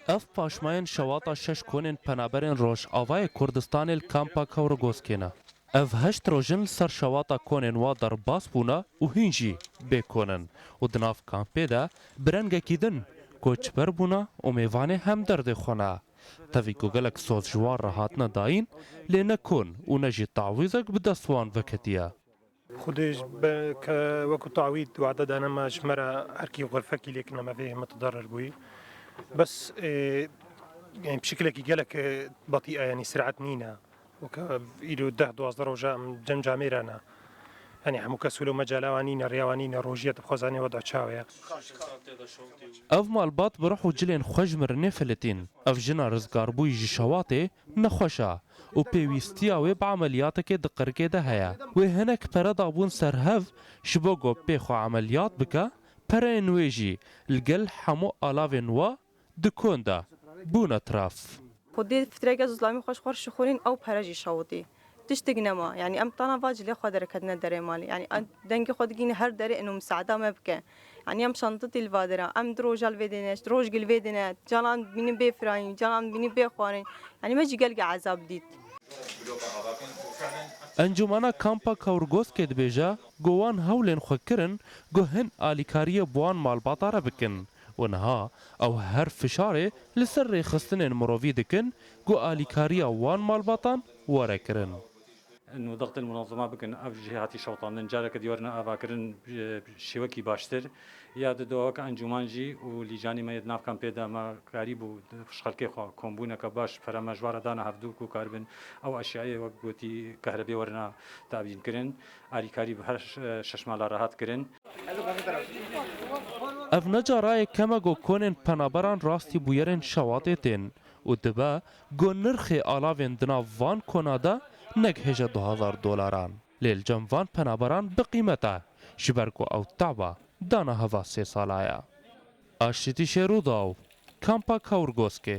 Ev paşmayên şewata şeş konên penaberên Rojavayê Kurdistanê li Kampa Kewrigoskê ne. Ev heşt roj in li ser şewata konên wan derbas bûne û hîn jî bê kon in û di nav kampê de bi rengekî din koçber bûne û mêvanê hem derdê xwe ne. Tevî ku gelek soz ji wan re hatine dayîn lê ne kon û ne jî tawîzek bi dest wan veketiye. Xwedê ji ber ke wekû tawîd wade dane me ji me re erkî xwe fekî lê kine me vê mitidarer bûyî. Bes ê yanî bi şekilekî gelek batî e yanî sirat nîne. Weke îro deh duwazdeh roj e em cem camê re ne. Yanî hemû kes wilo mecala wan nîne, rêya wan nîne, rojîye dixwe zanê weda çawa ye. Ev malbat bi rih û cilên xwe ji min re nêfelitîn. Ev jina rizgarbûyî ji şewatê nexweş e. û pêwîstiya wê bi emeliyatekê di qirikê de heye. Wê hinek pere dabûn ser hev ji bo ku pê xwe emeliyat bike, pereyên wê jî li gel hemû alavên wa di kon de bûn etraf. Xwedî fitreke zûzlamî xwe ji xwe rişixûrîn ew pere jî şewitî. Tiştek nema. Yanî em tana va cilê xwe de re ketine derê malê. Yanî dengê xwe digihîne her derê ino miseada me bike. Yanî em şanditî li va dir e. Em di roja li vê dê ne, di roj li vê dê ne. Canan dibînin bê firayîn, canan dibînin bê xwarin. Yanî me jî gelekî ezab dît. Encûmena Kampa Kaurgoskê dibêje ku wan hewlên xwe kirin ku hin alîkariyê bi wan malbata re bikin û niha ew her fişarê li ser rêxistinên mirovî dikin ku alîkariya wan malbatan were kirin. Nû diq din munazama bikin ev jî hatî şewitandin careke diyar ne avakirin bi şêwekî baştir ya di daweke encûman jî û lîcanî me yê di nav kampê de me karî bû di xelkê xwe kombûneke baş bi pere mejbare dana hev dû ku karibin ew eşyayê wek gotî kehrebê werina te'bîn kirin alîkarî bi her şeş mala rehat kirin. Ev ne carayê keme go konên penaberan rastî bûyerên şewatê tên û dibe Ku nirxê alavên di nav van kona de negihêje du hezar dolaran. Lê li cem van penaberan bi qîmet e, ji ber ku ew taba dana heva sê sala ye. Aştîtîşê Rûdaw, Kampa Kaurgoskê,